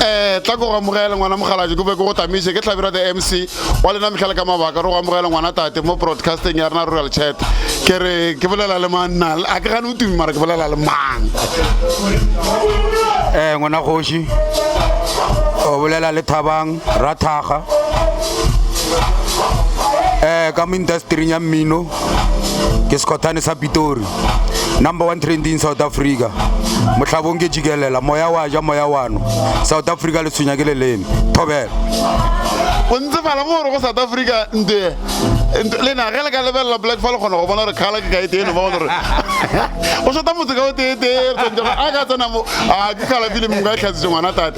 Eh, tla ko go amogele ngwana mogaladi ko be ko go tamiše ke tlhabira the mc wa lena metlhale ka mabaka re go amogele ngwana tate mo broadcasting ya rena rural chat ke re ke bolela le mang nna a ke gane o tumi mara ke bolela le mang um ngwana kgoši o bolela le thabang Rathakga eh ka mo industering ya mmino ke sekhothane sa pitori number one trending south africa mohlabong ke jikelela moya wa ja moya wano south africa le tshwenya ke leleme thobela o ntse fala mo gore go south africa nte lena ge le ka lebelela black fa le kgona go bona gore kgala ke kaete eno ba bona gore o shota motse ka o teetee a ka tsenamo a ke kgalafile mongwe ka e tlhatsitse ngwana tate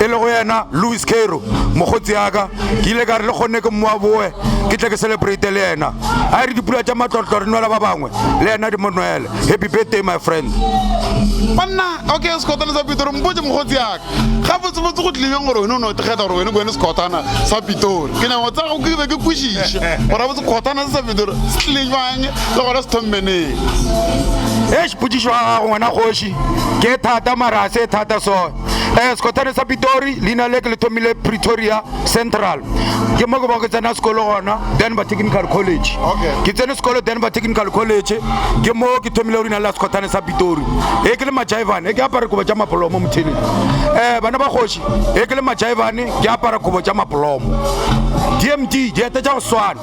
e lego yena Lewis Cairo, mokgotsi yaka, ke ile ka re le kgonne ke mmoa boe ke tle ke celebrate le yena. A e re dipula tša matlotlo re nwela ba bangwe, le yena di mo nwele. Happy birthday my friend. Banna, okay sekhotana sa Pitori, mpotše mokgotsi yaka, gabotsebotse go tlileng gore wena o ne o thekgeta gore wena ke wena sekhotana sa Pitori. Ke nyaka go tsaya go ke be ke kwešiše gore gabotse sekhotana se sa Pitori se tlile bjang le gona se thommeneng. Eish, potšišo ya gago ngwana kgoši ke e thata mara ga se e thata so. Eh, sekotane sa pitori leina le ke le thomile pretoria central ke mo ke ba ke tsena sekolo gona denver technical college ke tsene sekolo denver technical college ke mo ke thomile go leina la sekotane sa pitori e ke le majaivane e ke apare kobo tša mapolomo mothini um eh, bana ba kgoši e ke le majaivane ke apara kobo tša mapolomo dmd diete tša go swana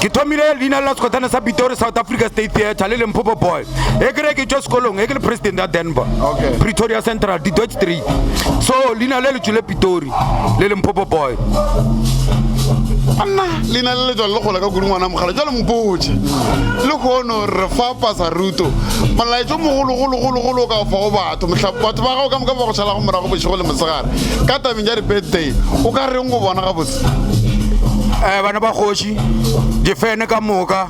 ke thomile leina la sekotane sa pitori south africa state theatre le lemphopo boy e kere ke tšwa sekolong e ke le president ya denver okay. pretoria central didot street so leina le le tšwile pitori le lemphopo boy anna leina le le tswale le gola ka kudu ngwana mogala jalo mpotše le kgono re fa pasa ruto molaetso mogologologologolo o ka fa go batho batho ba gago ka moka ba go tšhalago morago bošego le mosegare ka tabeng ja di-birthday o ka reng go bona gabotse um bana ba kgoši difene ka moka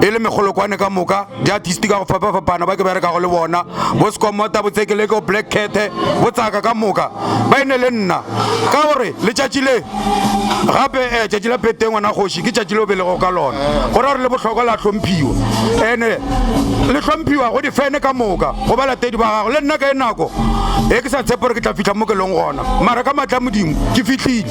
e le megolokwane ka moka diartisti ka go fapafapana ba ke berekago le bona bo sekomota botsekeleke o black cathe botsaka ka moka ba e ne le nna ka gore letšatši le gape um eh, tšatši la pete ngwana kgoši ke tšatši le o belego ka lona go ra gore le bohlokwa la hlomphiwa ene le hlomphiwa go difene ka moka go ba latedi ba gago le nna ka e nako e ke sa tshepe gore ke tla fitlha mo ke leng gona mara ka matla modimo ke fitlhile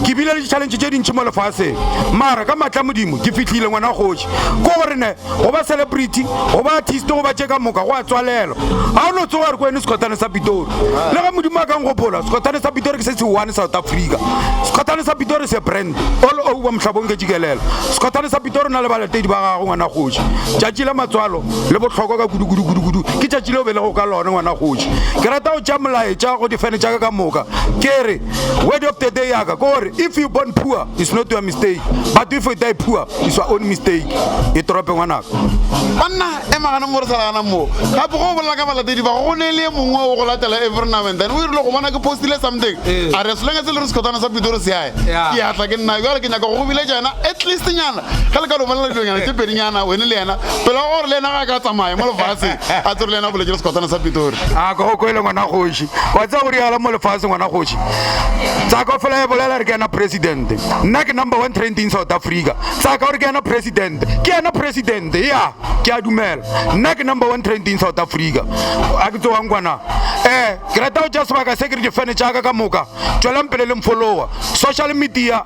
ke bile le ditšhalentšhe tše dintšhi mo lefaseng mara ka matla modimo ke fihlile ngwana kgoši ko gore ne go ba celebrity go ba artist go ba tše ka moka go a tswalelwa ga o no tsoga re ko ene sekgothane sa pitori le ge modimo a kang gopola sekgothane sa pitori ke se se one south africa sekgothane sa pitori se brand all over mohlabong ke tšikelela sekgothane sa pitori na le balatedi ba gago ngwana kgoši tšatši la matswalo le bohlokwa ka kudukudukudukudu ke tšatši leo be le go ka lone ngwana kgoši ke rata go tša molaetša go difene tša ka ka moka ke re Word of the day ya ka gore if you born poor it's not your mistake but if you die poor it's your own mistake e torope ngwanaka banna e magana mo re sa lagana moo gape go bolela ka balatedi ba go ne le mongwe o go latela every now and then o irile go bona ke postile something eh. a re selenge se le re sekgothana sa pitori se yae ke atla ke nna jale ke nyaka go go biletša yena at least nyana ge le ka lo bolela dilonyana tše pedinyana wene le yena pele wa gore le yena ga a ka tsamaya mo lefase a tsere le yena boletše le sekotana sa pitori a ka o kwele ngwana kgoši wa tsa gore yala mo lefase ngwana kgoši tsa ka fela e bolela re ke yena president nna ke number one trending south africa tsa ka gore ke yena president ke yena president ya ke a dumela nna ke number one trending south africa a ke tsewang kwana um ke rata go tša sebaka se ke re difene tša ka ka moka tswelang pele le mfolowa social media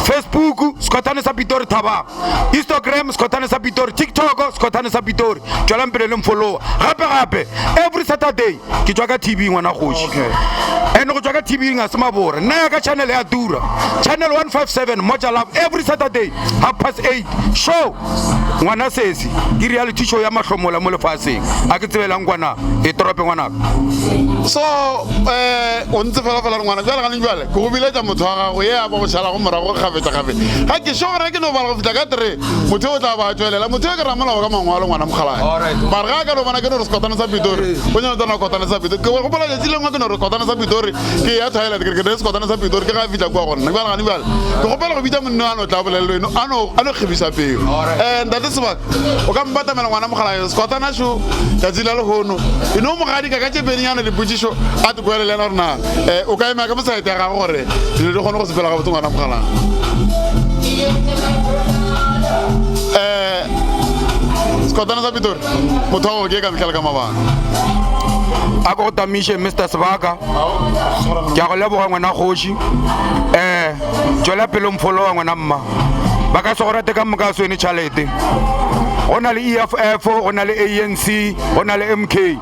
Facebook Sekgothane sa Pitori Thabang Instagram Sekgothane sa Pitori TikTok Sekgothane sa Pitori tšwelang pele le mfollowa gape gape every Saturday ke tšwa ka TV ngwana kgoši and go tšwa ka TV ga se mabore nna ya ka channel ya tura channel 157 Moja Love every Saturday half past 8 show ngwana sesi ke reality show ya mahlomola mo lefaseng a ke tsebelang kwana e torope ngwanaka so eh o ntse fela fela re ngwana jwale ga le jwale Ke go biletša motho wa gago ye a ba go šalago morago kgafetšakgafetša. Ga ke šogore ke no bala go fihla ka three, motho yo o tla ba a tšwelela. Motho yo ke ramolao ka mangwalo, ngwana Mokgalajwe. Mare ge a ka no bona ke no re sekotane sa Pitori, o nyalo tsena kotane sa Pitori. Ke gopola letšatši le lengwe ke no re sekotane sa Pitori, ke eya toilet, ke re ke ne le sekotane sa Pitori, ke ge a fihla kua go nna. Bjale gane bjale, ke kgopela go bitša monna yo a no tla a bolelele eno, a no, a no kgebiša pelo. Um, Ntate Sebaka, o ka mpatamela ngwana Mokgalajwe, sekotana šo, tšatši la lehono. E no mo gadika ka tše pedinyana dipotšišo, a tokele le yena gore na. Eh, o ka ema ka mosaete ya gago gore dilo di kgone go sepela ga botse ngwana mogalang um eh, sekotana sa pitori motho wa go ke ka metlhale ka mabaka a ko go tamiše mr sebaka ke a go leboga ngwana kgoši um eh, tswela pelo mpholo wa ngwana mma ba ka se go rate ka moka swene tšhalete go na le e f f go na le anc go na le m k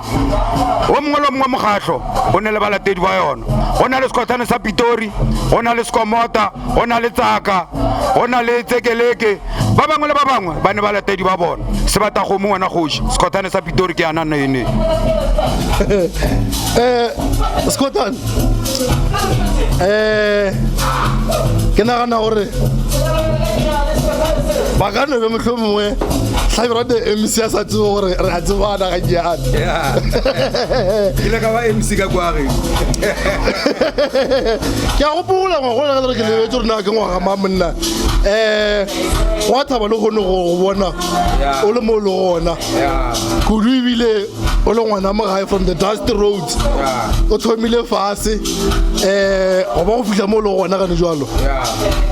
o mongwe le o mongwe wa mokgatlho o ne le balatedi ba yona go na le sekgothane sa pitori go na le sekomota go na le tsaka go na le tsekeleke ba bangwe le ba bangwe ba ne balatedi ba bona sebatakgomo ngwana kgoši sekgothane sa pitori ke yana nene eh, sekgothane eh, ke nagana gore ba ka nobe motlho mongwe tlhabirate mc a sa tsebo gore re a tsebana ke a gopola ngwagola ka lere ke lebetse gore na ke ngwaga ma monna um wa thaba le kgone go bona o le mo o le gona kudu ebile o le ngwana mogae from the dust roads o thomile fase um go ba go fitlha mo o le gona gane jalo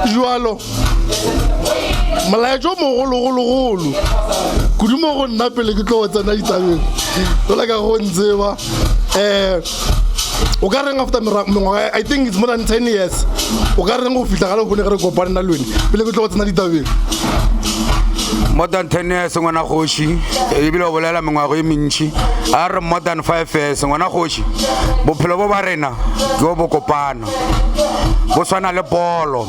jalo molaetša o mogologologolo kudu mo go nna pele ke tlo go tsena ditabeng go leka go ntseba um o ka reng after mengwaga i think it's more than ten years o ka reng go fitlha ga lebone ge re kopane na lone pele ke tlo go tsena ditabeng more than ten years ngwana kgoši ebile o bolela mengwago e mentšhi a re more than five years ngwana kgoši bophelo bo ba rena jo bo kopana bo swana le polo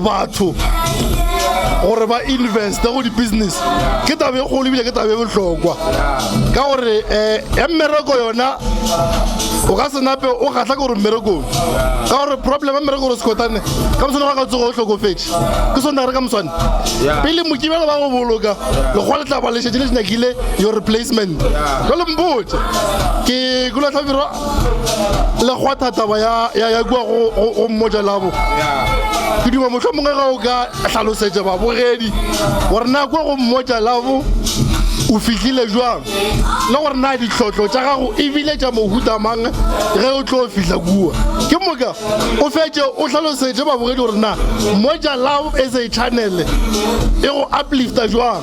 batho gore ba investe go di-business ke taba e kgolo ebile ke taba e bohlokwa ka gore um ya mmereko yona o ka se nape o kgatlha ke gore mmerekong ka gore problem ya mmereko gore sekotane ka moswane ga ka tsogo o hlokofetše ke sone re ka moswane pele mokibelo ba go boloka lekgwa le tla ba lešetše le nyakile your replacement jale mpotse ke kulatlhabiro le kgwatha taba ya ya ya kwa go go- go mmotša labo ke duma mohlomongwe ga o ka hlalosetša babogedi gore na kwa go mmotša labo o fihlile jwang le gore na ditlhotlho tša gago ebile tša mohuta mang ge o tlo fihla kua ke moka o fetše o hlalosetše babogedi gore na mmotša labo e se channele e go uplifta jwang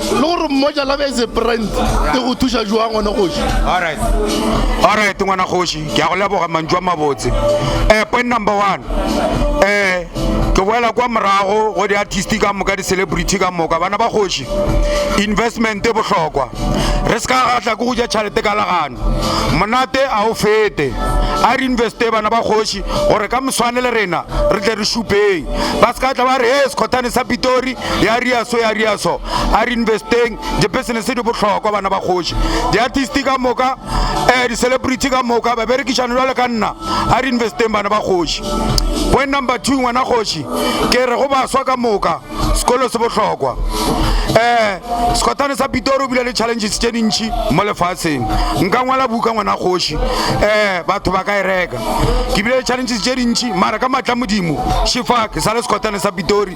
le gore mmoja la bese brand e go thuša joa ngwana kgoši alright ngwana kgoši ke a go leboga mantšu a mabotse um point number one um ke boela kwa morago go di-artist ka moka di-celebrity ka moka bana ba kgoši investment e bohlokwa re se ka gatla ke go ja tšhalete ka lagano monate a o fete a re investe bana ba kgoši gore ka moswane le rena re tle re šupeng ba se ka tla ba re e sekgothane sa pitori ya riaso ya riaso a re investeng di-business di bohlokwa bana ba kgoši di-artist ka moka um di-celebrity ka moka ba berekišano jwale ka nna a re investeng bana ba kgoši point number two ngwana kgoši ke re go baswa ka moka sekolo se bohlokwa um sekotane sa pitori o bile le challenges tše dintšhi mo lefatsheng nka ngwala buka ngwana kgoši um batho ba ka e reka ke bile le challenges tše dintšhi mara ka matla modimo shifa ke sa le sekotane sa pitori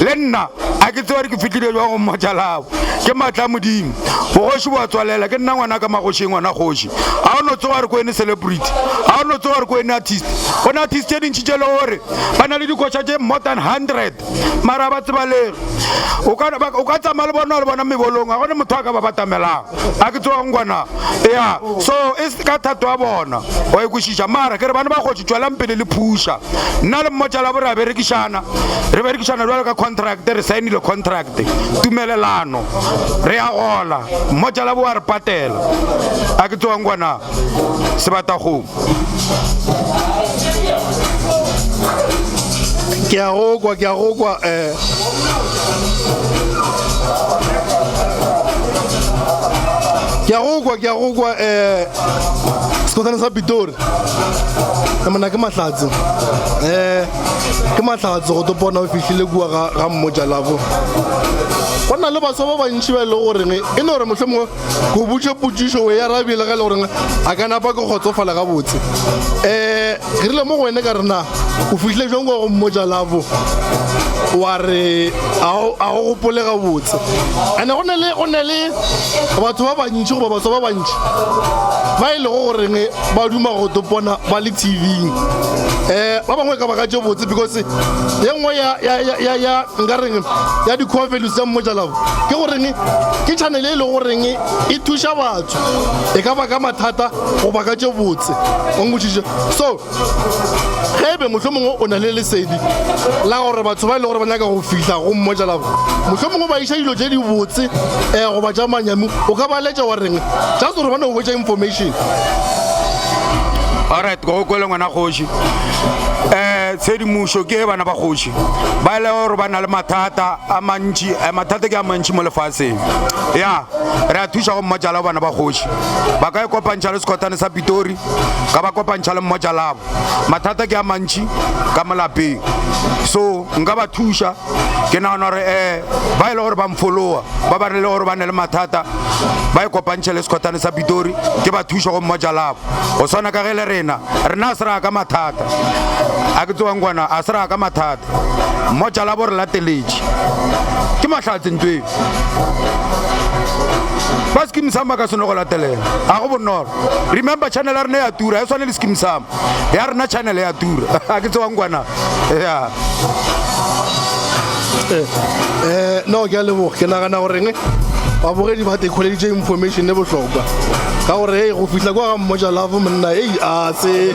Le nna, a ke tsebare ke fihlile bjang go mmotša labo. Ke matla a Modimo. Bogoši bo a tswalela. Ke nna ngwanaka magoši e ngwana kgoši. A o no tsoga gore ke wene celebrity? A o no tsoga gore ke wene artist? Go na artist tše dintši tše le gore ba na le dikoša tše more than hundred mara ga ba tsebalege. O ka, o ka tsamaya le bona wa le bona mebolong, ga go ne motho a ka ba batamelang. A ke tsogeng gona. Eya. So, e se ka thato ya bona. Wa e kwešiša? Mara ke re, bana ba kgoši, tšwelang pele le phuša. Nna le mmotšalabo re a berekišana, re berekišana bjalo ka contract, re saenile contract, tumelelano, re a gola, mmotšalabo o a re patela. A ke tsewang kwa na? Sebatakgomo. Ke a go kwa, ke a go kwa, eh. Ke a go kwa, ke a go kwa, eh. sekgothane sa pitori emana ke mahlatse um ke mahlatse go topona o fihlile kua ga mmotsa lafo go na le baswa ba bantši ba e le goreng e no gore motlho mongwe go butše potsišo o ya rabile ga e le goreng a ka napa ke kgotsofala gabotse um Ke rile mo go wene ka re, Na o fihlile bjang kwa go mmotša Lavo? Wa re, A o, a o gopole gabotse. Ene go ne le, go ne le batho ba bantši, goba baswa ba bantši, ba e lego goreng ba duma go topona ba le TV-ing. Eh, ba bangwe e ka ba ka tše botse, because ye nngwe ya, ya, ya, ya, ya, nka reng, ya di-core values tša Mmotša Lavo ke goreng ke channel e lego goreng e thuša batho, e ka baka mathata goba ka tše botse o nkwešiše so ge ebe mohlho mongwe o na le lesedi la gore batho ba e le gore ba nyaka go fihla go mmojalabo mohlho mongwe ba iša dilo tše di botse um eh, goba tša manyami o ka ba letša wa reng just gore bane o hwetša information alright go kwele ngwana kgoši um eh, tshedimošo ke e bana ba kgoši ba e le gore ba na le mathata a mantši eh, mathata ke a mantši mo lefatsheng ya re a thuša go mmojalabo bana ba kgoši ba ka e kopantšha le sekhothane sa pitori ka ba kopantšha le mmotša labo mathata ke a mantšhi ka molapeng so nka ba thuša ke nagana gore um ba e le gore ba mfolowa ba ba re le gore ba ne le mathata ba e kopantšhe le sekhothane sa pitori ke ba thuša go mmotša labo go swana ka ge le rena rena a se raya ka mathata a ke tsewang kwana a se raya ka mathata Mmotša labo re lateletše. Ke mahlatse ntweng. Ba Skeem Saam ba ka se no go latelela. Ga go bonolo. Remember channel ya rena ya tura. Ga e swane le Skeem Saam. Ya rena channel ya tura. Ga ke tsewang kwa na. Eh, no ke a leboga. Ke nagana goreng babogedi ba thekholeditše information e bohlokwa ka gore hey go fihla kwa ga mmotša lavo monna ei a se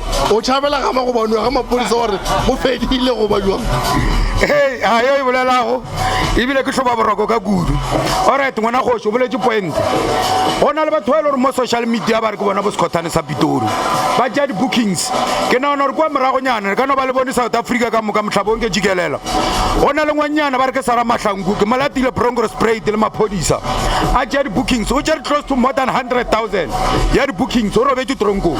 O tšhabela gama go banoa ga mapodisa gore go fedile go ba jwang? Hei, a yo e bolelago ebile ke hloba boroko ka kudu. Alright, ngwana kgoši, o boletše poente. Go na le batho ba e le gore mo social media ba re ke bona bo sekgothane sa Pitori. Ba tšea di-bookings. Ke nagana gore kua moragonyana re ka no ba le bone South Africa ka moka, mohlabong ke jikelela. Go na le ngwannyana ba re ke Sarah Mahlangu, ke mo latile Bronkhorstspruit le maphodisa a tšea di-bookings. O tšere close to more than hundred thousand ya di-bookings, o robetše tronkong.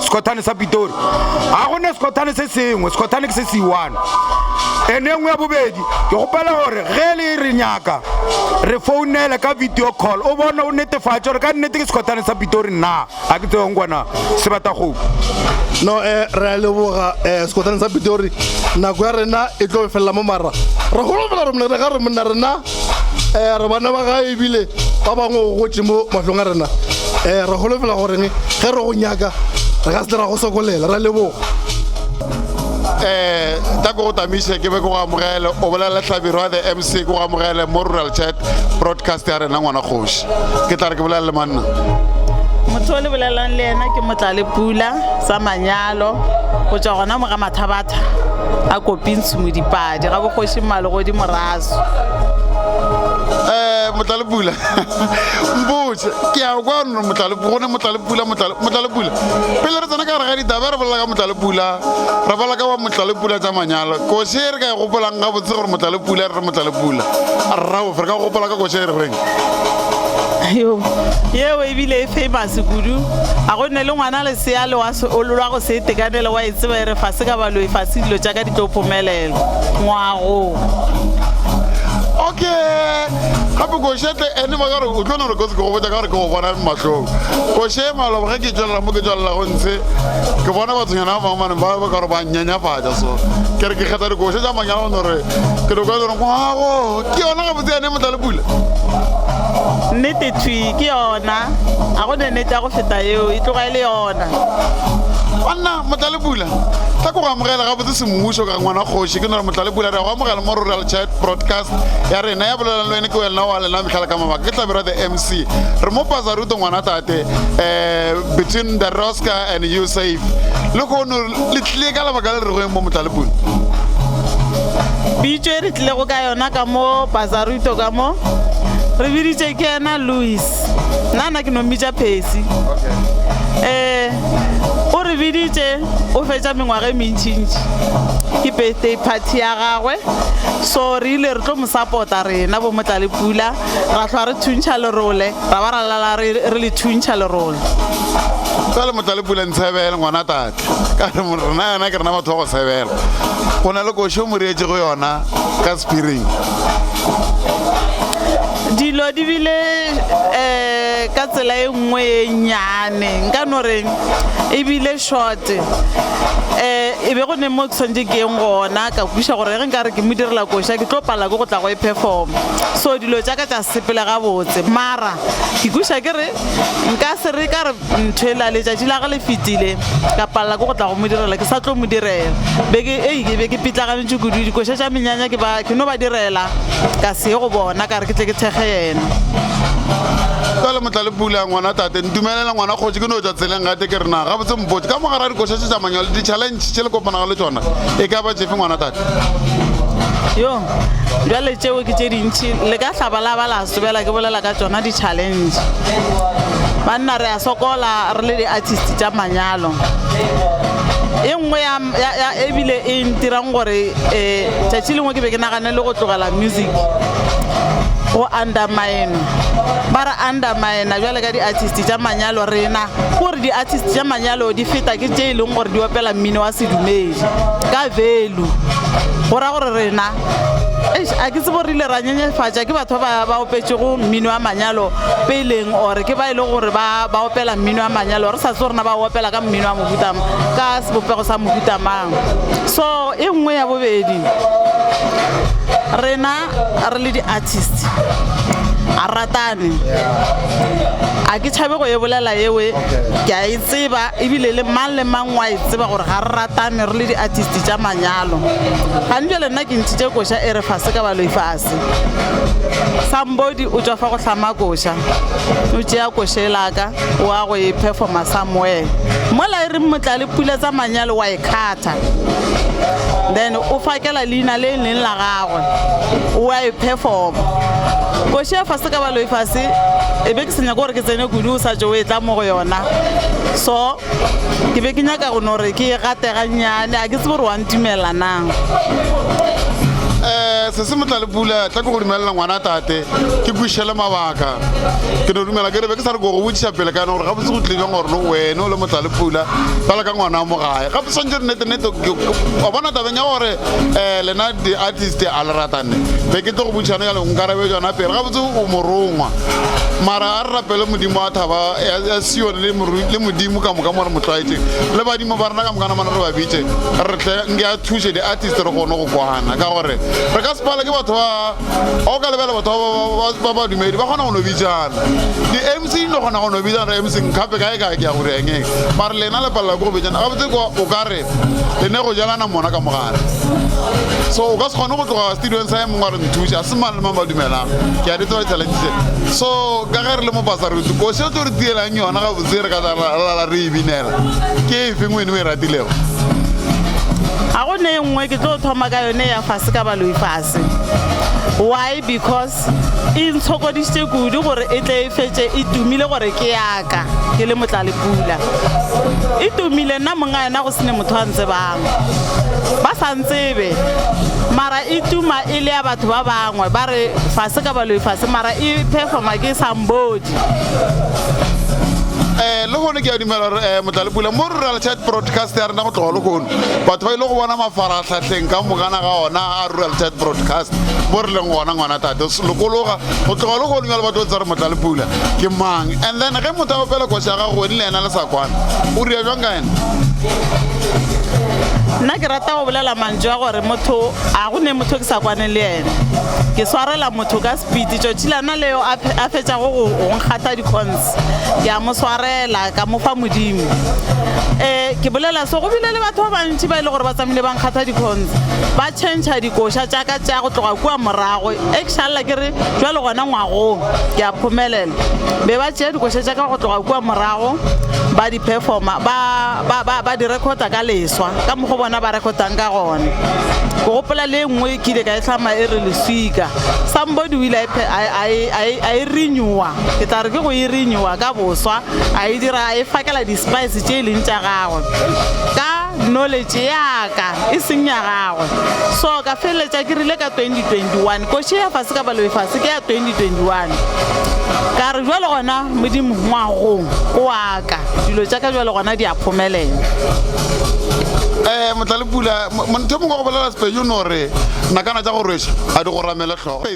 Sekhothane sa Pitori. Ga go ne sekhothane se sengwe, sekhothane ke se se i-one. And e nngwe ya bobedi, ke kgopela gore ge le re nyaka, re founele ka video call, o bone, o netefatše gore ka nnete ke sekhothane sa Pitori naa. Ga ke tsebe go nkwana, Sebatagopo. No, eh, re a leboga, eh, sekhothane sa Pitori. Nako ya rena e tlo felela mo, mara re holofela gore monna, re ga re monna, rena um re bana ba gae ebile ba bangwe o gotse mo matlong a rena um re golofela goreng ge re go nyaka re ka se ra go sokolela ra leboga um ka ko go tamiše ke be ke go amogele o bolela tlhabiro ya the mc ko go amogele mo rural chat broadcast ya rena ngwana kgoši ke tla re ke bolela le manna motho o le bolelelang le ena ke motlale pula sa manyalo go tswa gona mo ga mathabatha a kopintshumo dipadi ga bogoši mmale godi morazo um motlalepula mpotse ke ya kwa no gone motlalepula motlalepula pele re tsena ka gare ga ditaba re bolela ka motlalepula re bolela ka wa motlalepula tsa manyalo kose e re ka e gopolang ga botse gore motlalepula re re motlalepula rraofe re ka gopola ka kose e re reng yo yeo ebile e famous kudu a go nne le ngwana lesea le wa seololwa go se itekanele wa e tseba e re fa se ka baloe fa se dilo tša ka di tlo phomelela ngwago okay gape košetle ene ba kare o tlo no re kotsi ke go botsa ka gore ke go bona matlhong koše malobo ge ke tswelela mo ke tswelelago ntshe ke bona bathonyana ba bangwe maneng ba ba ka gore ba nyenyafatša so ke re ke kgetha dikoše tša manyalo no re ke doko gore ngwago ke yona ga botse ene motla le pula nnete thwi ke yona a go nenetša go feta yeo e tloga e le yona banna motla le pula ka ko go amogela gabotse semmušo ka ngwana kgoši ke nore motlale pula re go amogela mo rural chat broadcast ya rena ya bolelang le wene ke wena wa lena metlhala ka mabaka ke tlabera the mc re mo pasa ruto ngwana tate um between the rosca and you safe le kgono le tlile ka lebaka le re goeng mo motlale pula bitso e re tlilego ka yona ka mo pasaruto ka mo re biditše ke ena louis nna na ke no mmitša phesi um eh, o re biditše o fetša mengwaga e mentšintši ke birthday party ya gagwe so re ile re tlo mo support-a rena bo motla le pula ra tlhoa re thuntšha lerole ra ba ra lala re le thuntšha lerole ka le motla le pula ntshebele ngwana tate ka re rena yona ke rena batho ba go tshebela go na le košo mo reetsego yona ka spiring Dilo di bile ka tsela e nngwe e nnyane, nka no reng e bile short. E be go ne mo ke swantše ke yeng gona, ka kwešiša gore ge nka re ke mo direla koša ke tlo palelwa ke go tla go e performer. So dilo tša ka tša sepela gabotse mara ke kwešiša ke re nka se re ka re, Nthwela, letšatši la ge le fetile, ka palela ke go tla go mo direla, ke sa tlo mo direla, be ke, ei, ke be ke pitlaganetšwe kudu, dikoša tša menyanya ke ba, ke no ba direla, ka se ye go bona, ka re ke tle ke thekge yena. Bjale Motlalepula, ngwanatate, ntumelele, ngwana kgoši, ke no tšwa tseleng gate ke re, Na gabotse mpotše, ka mo gare ga dikoša tše tša manyalo, ditšhalentšhe tše le kopanago le tšona e ka ba tšefe, ngwanatate? Yo, bjale tšeo ke tše dintši, le ka hlaba la ba la. Ke bela ke bolela ka tšona di challenge. Banna re a sokola re le di artist tša manyalo. E nngwe ya ya ebile e ntirang gore eh tšatši lengwe ke be ke nagane le go tlogela music go undermine-wa. Ba re undermine-a bjale ka di artist tša manyalo rena ke gore di artist tša manyalo di feta ke tše e leng gore di opela mmino wa sedumedi ka value. Go ra gore rena a ke tsebo rile ra nyenyefatša ke batho ba ba opetšego mmino wa manyalo peleng ore ke ba e le gore ba ba opela mmino wa manyalo re sa tse rena ba opela ka mmino wa mohuta ka sebopego sa mohuta mang so e nngwe ya bobedi rena re le di-artist a ratane a ke tšhabe go e bolela ewe ke a e tseba ebile le mang le mang Wa e tseba gore ga re ratane re le diartist tša manyalo. Gane bjale nna ke ntšhitše koša e re fase ka baloi fase. Somebody o tšwa fa go hlama koša, o tšea koša e la ka o a go e performer somewhere. Mola e reng Motlale pula tsa manyalo wa e khatha. Then o fakela leina le leng la gagwe, o a e performer. Koša ya fase ka baloi fase e be ke sa nyake gore ke tsene kudu o sa tšo o etla mo go yona. So. ke be ke nyaka go no re ke e gate gannyane a ke tsebe gore wa ntumela na um se se motla le pula tla ke go dumelela ngwana tate ke kwišele mabaka ke no dumela ke re be ke sa re ko go botšiša pele ka yone gore gabotse go tlile jang gore le wene o le motla le pula bjale ka ngwana wa mo gae gape swantse re nete nete wa bona tabeng ya gore um lena di-artist a le ratane be ke tlo go botšišano ya lengwe karabe jona pele gabotse o morongwa mara Re rapele Modimo wa thaba ya Sione le morui le Modimo ka moka mo re mo tlwaetšeng le badimo ba rena ka moka namana re ba bitše re tle nke a thuše di-artist re kgone go kwana ka gore re ka sepala ke batho ba ga o ka lebela batho ba ba dumedi ba kgona go no bitsana di-mc di no kgona go no bitsana re mc nkape kae kae ke ya gore engeng mare lena le palela ke go bitsana gabotse o ka re le ne go jalana mona ka mogare so o ka se kgone go tloga studiong sa ye mongwe a re nthuša se mang le mang ba dumelang ke a di tseba di-challenge tse so ka ge re le mo basarutse koši o tlo re tielang yona gabotse re ka lala re e binela ke e feng wene o e ratilego ga go ne e nngwe ke tlo thoma ka yone ya fase ka baloi fase why because e ntshokodisitše kudu gore e tle e fetse e tumile gore ke yaka ka ke le motlalepula e tumile nna monga yena go sene motho a ntsebang ba sa ntsebe mara e tuma e le ya batho ba bangwe ba re fase ka baloi fase mara e performa ke sambodi eh le gone ke a dumela gore um motlalepula mo rural chat broadcast ya rena go tloga legono batho ba ile go bona mafaratlhatlheng ka mogana ga ona a rural chat broadcast mo re leng gona ngwana tate lokologa go tloga legoding ya lebato tsa re motla le pula ke mang and then ge motho a opela koša ya gago weni le yena le sa kwana o ria jwang ka yena nna ke rata go bolela mantso ya gore motho a go ne motho ke sa kwane le yena ke swarela motho ka sepiti tšotšilana leo a fetšago go nkgatha dicons ke a mo swarela ka mo fa modimo um ke bolela se go bile le batho ba bantši ba e le gore ba tsamile ba nkgatha dicons ba changea dikoša tšaka tša go tloga kua morago Ge ke sa lla ke re bjalo gona ngwagong, ke a phomelela. Be ba tšea dikoša tša ka go tloga kua morago ba di perfoma, ba, ba, ba, ba di rekhota ka leswa, ka mokgwa o bona ba rekhotang ka gona. Ke gopola le e nngwe ke ile ka e hlama e re Leswika. Somebody o ile a e phe-, a e, a e, a e, a e renew-a, ke tla re ke go e renew-a ka boswa, a e dira, a e fakela di-spice tše e leng tša gagwe. Ka. Knowledge ya ka, e seng ya gagwe. So ka feleletša ke rile ka 2021, Koši ya fase ka balobe fase ke ya 2021. Ka re bjale gona Modimo ngwagong o wa ka, dilo tša ka bjale gona di a phomelela. Eh, Motlalepula, mo, mo, ntho e mongwe wa go bolela Sepejo o no re, Nakana tša go rweša ga di go ramele hlogo.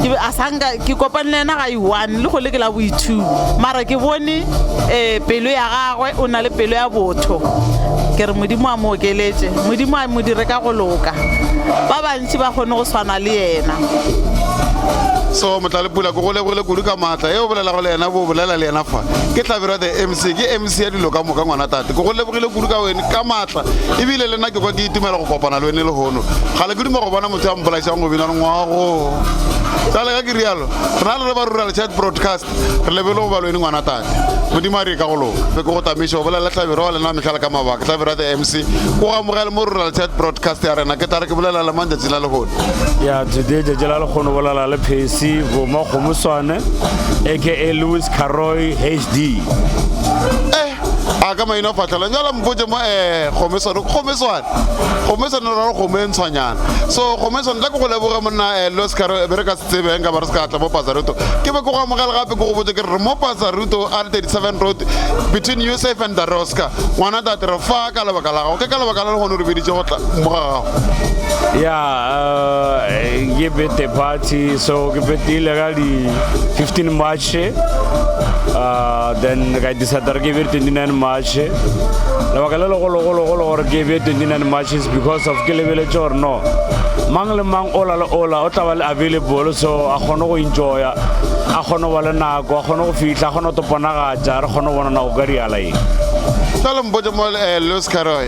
ke be a sanka ke kopane le yena ga i-one le gole ke la bo-two mara ke bone um pelo ya gagwe o na le pelo ya botho ke re modimo a mo okeletše modimo a mo dire ka go loka ba bantši ba kgone go swana le yena so motlalepula ke go lebogile kudu ka maatla e o bolelago le yena bo bolela le yena fa ke tlabero the mc ke mc ya dilo ka moka ngwana tate ke go lebogile kudu ka wene ka maatla ebile le nna ke kwa ke itumela go kopana le wene lehono ga le ke duma go bona o tsaya mpolaisang go bina lengwago jale ka ke rialo re na le re ba rural chat broadcast re lebele go balweni ngwana tate modimo a re ka go lona fe ke go tamešo go bolela tlabiro wa lena metlhala ka mabaka tlabiro ya the mc o gamogele mo rural chat broadcast ya rena ke tare ke bolela le mang tšatši la lehono ya today tšatši la lekgono bolela le phesi boma kgomoswane aka lewis caroy hd a ka maina fatlhela jala mpotse mo eh gomeswane gomeswane gomeswane ra gomo e ntshwanyana so gomeswane tla ke go leboge monna eh los kare be re ka se tsebeng ka ba re se ka tla mo pasaruto ke be ke go amogela gape ke go botse ke re mo pasaruto r 37 road between usafe and the rosca ngwana tate re fa ka lebaka la gago ke ka lebaka la le gone re biditse go tla mo ga gago ya eh, ke bete party so ke betile ka di 15 march March uh, then ka decide re ke be 29 March lebaka le legologologolo gore ke be 29 March is because of ke lebeletse gore no mang le mang ola le ola o tla ba le available so a kgone go enjoya a kgone go ba le nako a kgone go fitlha a kgone go toponagatša re kgone go bona nako ka diala eng tlale mpotse mo eh, louis caroy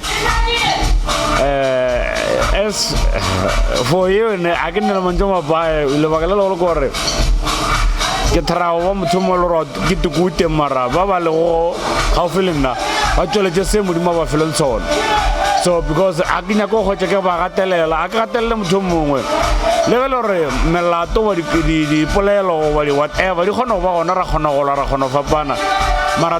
Eh, as for you ne a ke nne le mantse mabae lebaka le legolo kore ke tharago ba motho mo le gore ke tukute mara ba ba lego gaufi le nna ba tsweletše se modimo ba feleng sona so because a ke nyako go hwetša ke ba gatelela a ke gatelele motho mongwe le ge le gore melato wa dipolelo wa di-whatever di kgona go ba gona ra kgona gola ra kgona go fapana mara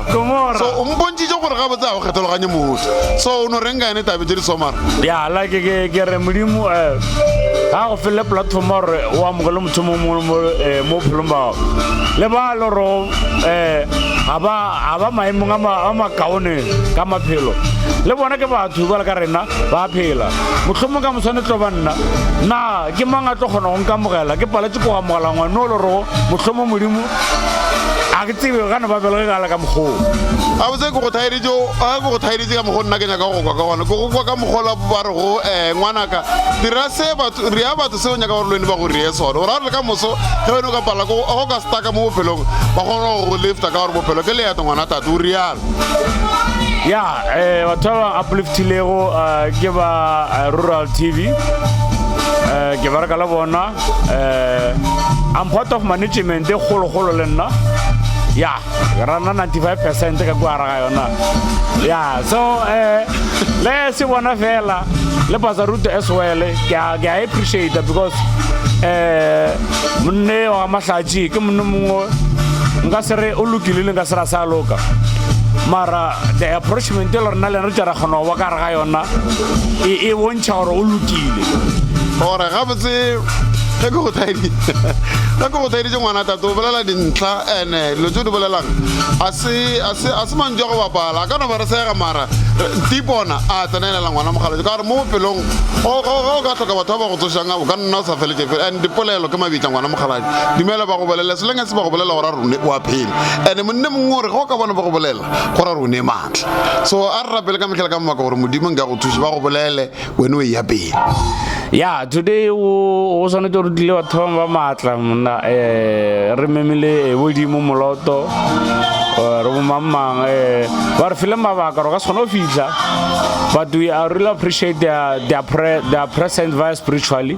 so o mpontšitše gore gabotse ga o kgethologanye mogote so o no reng ka yone tabe tše di somara ya like ke ke re modimo eh ga go fele platform gore o amogele motho mo mo mo eh, mo phelong bao le ba le ro eh ga ba ga ba maemong a ma- a makaone ka maphelo le bona ke batho jale ka rena ba phela mohlomong ka moswane tlo ba nna na ke mang a tlo kgona go nkamogela ke paletse ko amogela ngwane o le rogo mohlomong modimo tsebe gane ba bela gala ka mokgwa oo gabotse ke go thaeretše ga ke go thaeretše ka mokgwa nna ke nyaka go kwa ka gona ke go kwa ka mokgwa la ba re go um eh, ngwanaka dira se batho re ya batho seo nyaka gore le wene ba go reye sone gore a re le ka moso ge wene o ka pala go go ka staka mo bophelong ba kgona go go lifta ka gore bophelo ke leeto ngwana tate o rialo ya um batho ba ba upliftilego eh, ke ba rural tv um ke bareka le bona uh, I'm part of management e golo golo le nna ya rana 95 percent ka kwa ra yona ya so uh, le se bona fela le bazaruto as well ke a ke a appreciate because eh monne wa mahlatsi ke monne mongwe nka se re o lokile le nka se ra sa loka mara the approachment e le rena le re tšara kgona go ba ka re ga yona e, e Tšha gore o lokile. Gore gabotse ge ke go thaedi ge ke go thaeditše ngwana tate o bolela dintlha ene dilo tse di bolelang a se mantšu a go bapala a ka no ba re sega mara tipona a tsenelela ngwana mogaletso ka gore mo bophelong ga o ka tlhoka batho ba ba go tsošang o ka nna o sa feletše fele and dipolelo ke mabitla ngwana mogaladi dumela ba go bolele selenge se ba go bolela gore a rone o a phela ande monne mongwe gore ge o ka bona ba go bolela gore re o ne maatla so a re rapele ka metlhela ka mabaka gore modimo nka go thuše ba go bolele wene o e ya pele ya today o swanetse gore tlile batho bangwe ba maatla mna um eh, re memile eh, bodimo moloto eh, re bomangmang um ba re file mabaka gore ka se kgone go fitlha but we are really appreciate their, their, pre, their present via spiritually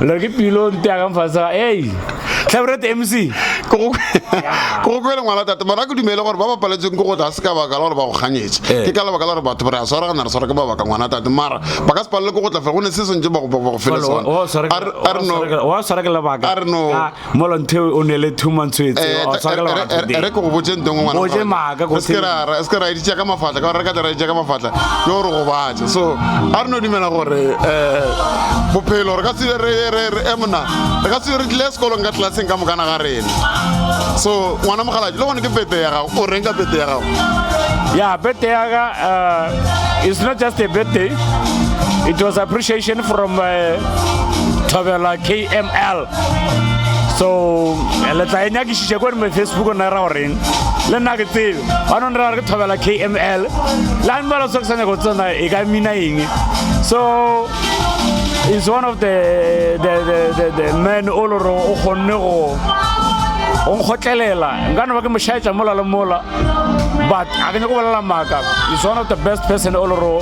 Lore ke pilo nte ya ka mfasa ei Tlhabrete MC ke go ke go kwele ngwana tate mara ke dumele gore ba ba paletseng ke go tla se ka baka la gore ba go kganyetse eh. ke ka lebaka la gore batho re a swara ga na re swara ke ba baka ngwana tate mara ba ka se palele ke go tla fe go ne se sentse ba go ba go fele sona a re no a re no molontheo o nele thuma ntshwetse eh, o tshwakela eh, eh, re ke go botse nto ngwe ngwanaoje maaka go se ra se ra editse ka mafatla ka re ka tla editse ka mafatla ke gore go batse so a re no dumela gore eh bophelo re ka se re re re emona re ka se re tle sekolong ka tlaseng ka mokana ga rena so ngwana mogalaje le gone ke pete ya gago o reng ka pete ya gago ya pete ya ga uh, it's not just a birthday it was appreciation from uh, Tavella KML so le tla e nyakišiša ko reme facebook o nna ra goreng le nna ke tsebe ba none ra re ke thobela kml le a mbala so ke sa nyako tsena e ka mina eng so is one of the, the, the, the, the man o lore o kgonne go o nkgotlelela nka no ba ke mošaetša mola le mola but a ke nyako bolela maaka is one of the best person o le ro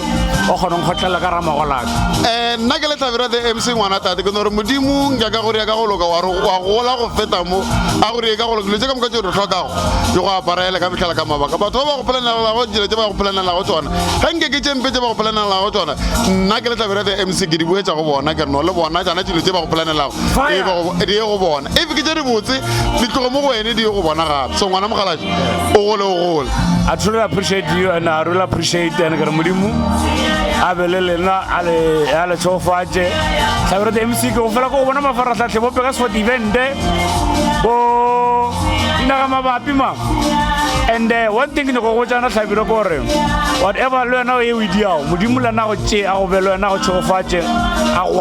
o kgonong kgotlhelela ka ramagolaka um eh, nna ke le tlhabera the mc ngwana tate ke nore modimo nka ka gore ya ka go loka wa gola go feta mo a gore e ka go loka dilo tse ka moka tse re tlhokago ke go aparaela ka metlhala ka mabaka batho ba ba go polanelelago dilo tse ba go polanelelago tsona ga nke ke tšempe tse ba go polanelelago tsona nna ke le tlhabera the mc ke di boetsa go bona ke re no le bona tsana dilo tse ba go polanelelago e be go- di ye go bona if ke tše dibotse di tloge mo go wene di ye go bona gape so ngwana mokgaladi o gole o gole I truly appreciate you and I really appreciate and ke re modimo a be le lena a le a le tshofatše tlhabere the mc ke go fela ko go bona mafaratlhatlhe bo peka sport evente bo dinaga mabapi ma and eh, one thing ke nyako go botsana tlhabire ko gore whatever le wena o e o e diago modimo le nago tše a go be le wena go tshofatše a go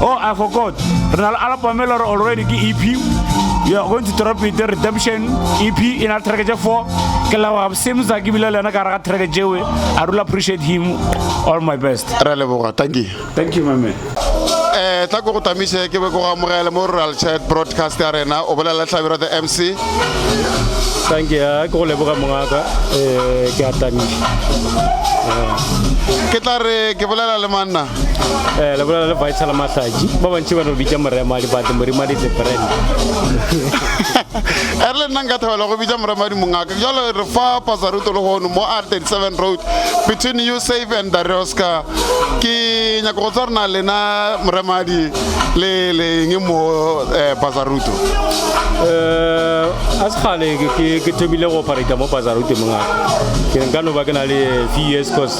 Oh, I forgot. Re na le album e le gore already ke EP. We are going to drop it, Redemption EP, in our track 4. Ke la wa same za ke bile le yena ka raga track jewe. I really appreciate him. All my best. Re a leboga, thank you. Thank you, my man. eh tla ko go tamise ke be ko go amogele mo rural chat broadcast ya rena o bolela tlhabiro the mc thank you eh, ke go leboga mongaka eh ke a tamise eh. ke tla re ke bolela le manna eh le bolela le vital mahlaji ba bantši ba no bitša morema dibate morima di brand e re le nna nka thabela go bitša morema di mongaka jalo re fa pasaruto le gono mo r 37 road between you safe and darioska ke nyaka go tswa rena lena moremadi le leng mo eh, pasaruto eh, a se gale ke thomile go operata mo pasaruto mongaka ke nka no ba ke na le few years cause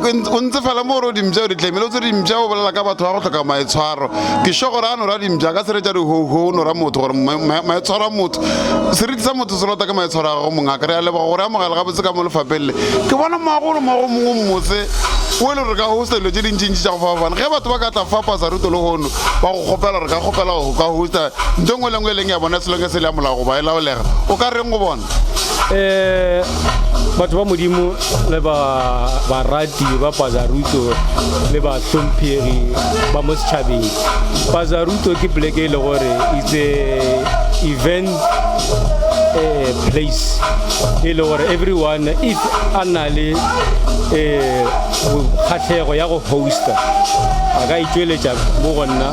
go ntse fela mo gore o dimpša o di tlemele o tse dimpša o bolela ka batho ba go tlhoka maetshwaro ke sho gore a nora dimpša ka seretša dihoho o nora motho gore maetshwaro a motho seriti sa motho se lota ke maetshwaro a gago mongaka re a leboga gore amogela gabotse ka mo lefapeng le ke bona moagolo moago mongwe mmotse o e le gore ka hosta dilo tse dintsintsi tša go fapafana ge batho ba ka tla fapasa ruto le gono ba go kgopela gore ka kgopela go ka hosta nto ngwe le ngwe e leng ya bona selonge se le ya molago ba e laolega o ka reng go bona um batho ba modimo le barati ba pazaruto le bahlomphegi ba mo setšhabeng pazaruto ke poleke e le gore itse event um place e le gore everyone if a na le um kgatlhego ya go hosta a ka itšweletša mo go nna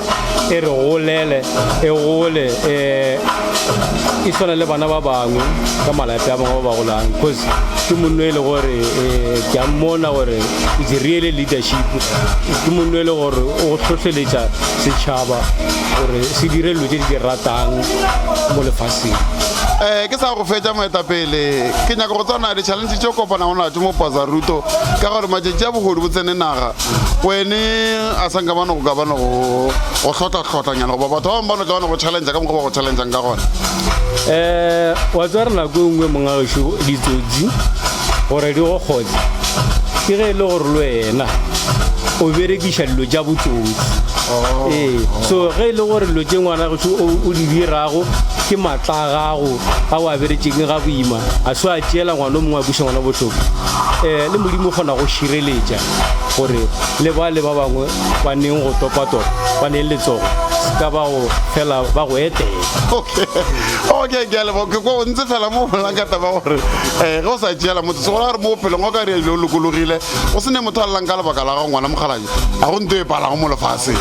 e re golele e gole um e tshwana le bana ba bangwe ka malape a bangwe ba ba golang because ke monno e le gore um ke a mmona gore is really leadership ke monno e le gore o tlhotlheletša setšhaba gore se dire dilo tse di di ratang mo lefaseng um ke sa go fetša moetapele ke nyaka go tswana le challenge tse kopana go natso mo pazaruto ka gore matšatši a bogodu bo tsene naga kwene a sa nka bano go ka bano go hlotla-hlotlanyana goba batho ba bangwe bano ka bano go challengea ka mokgwa ba go challengeang ka gona um wa tswa re nako e nngwe mongageso ditsotsi gore di go kgotse ke ge e le gore le wena o berekiša dilo tša botsotsi oh. ee so ge e le gore dilo tše ngwana geso o di dirago ke matla a gago a o a beretseng ga boima a se a tšeela ngwana o mongwe a busa ngwana bohloko um le modimo o kgona go šireletša gore le bale ba bangwe ba neng go topatopa ba neng letsogo ka bao fela ba go etela okay okay ke a leboga ke ko ntse fela mo bolang ka taba gore eh ge o sa tšeela motho se gore a re mo bophelong o ka re o lokologile o se ne motho a lelang ka lebaka la gago ngwana mokgalanye ga go nto e palago mo lefaseng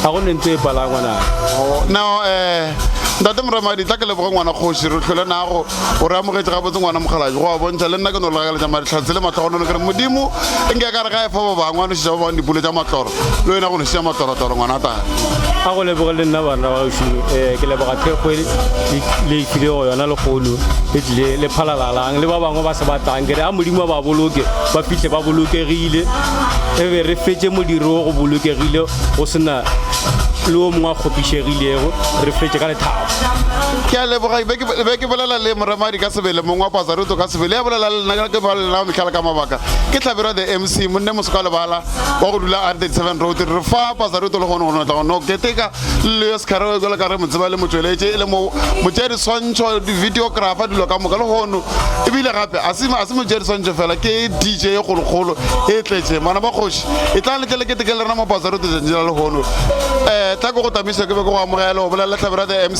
ga go ne nto e palang ngwana oh, now eh ntate moramadi tla ke leboge ngwana kgoši re tlhole nago O re amogetše gabotse ngwana mokgalabje, go a bontšha le nna ke no le gakaletša malehlatse le mahlogonolo ke re, Modimo e nke a ka re ga efa ba bangwe a nošetša ba bangwe dipulo tša matloro, le wena go nošetša matlorotloro ngwanatana. A go leboge le nna banna ba gešo, ee, ke leboga thekgo e le tlilego yona lekgolo le tlile le phalalalang le ba bangwe ba se ba tlang. Ke re a Modimo a ba boloke ba fihle ba bolokegile e be re fetše modiro o go bolokegile go se na le o mongwe a kgopišegilego, re fetše ka lethabo. Ke a leboga. Ke be ke, be ke bolela le Moremadi ka sebele, mong wa Pazaruto ka sebele, ya bolela le lena, ke bolela le lena ka mehla le ka mabaka. Ke Hlabirwa the MC, monne moso ka lebala, wa go dula Are 37 Road. Re fa Pazaruto le kgono go no tla go no keteka le Lewis Kharewe bjalo ka re mo tseba e le motšweletše, e le mo, motšeadiswantšho, di-videographer, dilo ka moka. Lehono, e bile gape, a se, a se motšeadiswantšho feela, ke DJ e kgolokgolo e tletšeng. Bana ba kgoši, etlang le tle le keteke le rena mo Pazaruto tšatši la lehono. Eh, tla ke go tamiše, ke be ke go amogele, o bolela le Hlabirwa the MC.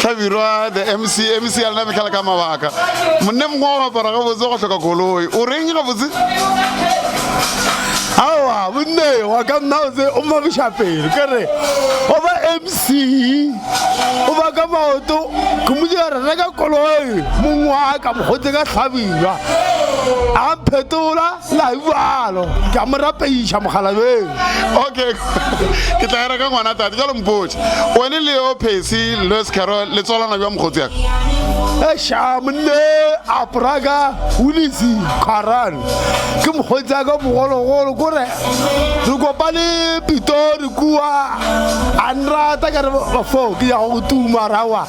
hlabirwa the mc mc ya lena fitlhela ka mabaka monne mongwe wa go apara gabotse wa go hloka koloi o reng gabotse awa bonne wa ka nna o se o mabiša pelo ke re o ba mc o ba ka maoto ke mo dira re reka koloi mongwe wa ka mokgotse ka hlabirwa a mphetola la bjalo ke a mo rapeiša mogalabeng okay ke tla era ka ngwana tate jalo mpotse wene le yo phesi louis carol le tswalana bja mokgotsi yaka eša monne apraka ulisi kgaran ke mokgotsi yaka bogologolo kore re kopane pitori kua a nrata ka re bafo ke ya go tuma rawa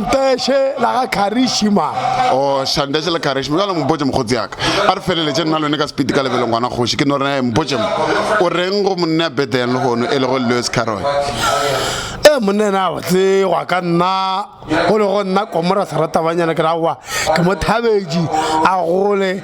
Shandeshe la ga Karishima. O Shandeshe le Karishima. Jalo mpotše mokgotsi yaka. A re feleletše nna lone ka sepiti ka lebelo ngwana kgoši. Ke no re eh, mpotše mo. O reng go monna ya Bethlehem lehono e lego Lewis Carroll? Eh, monna ena a botle gwa ka nna. Go lego nna Komora Seratabanyana ke ra wa. Ke mo thabetše a gole.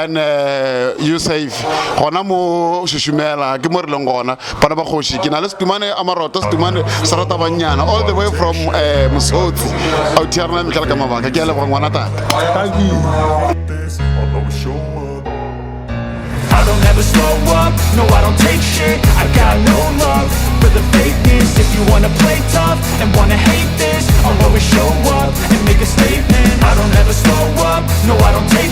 and uh, you safe gona mo šušumela ke mo re leng gona bana ba kgoši ke na le setumane a maroto setumane se rata bannyana all the way from uh, eh, mosotsi autiarna mekela ka mabaka ke a leboga ngwana tata I don't ever slow up, no I don't take shit I got no love for the fakeness If you wanna play tough and wanna hate this I'll always show up and make a statement I don't ever slow up, no I don't take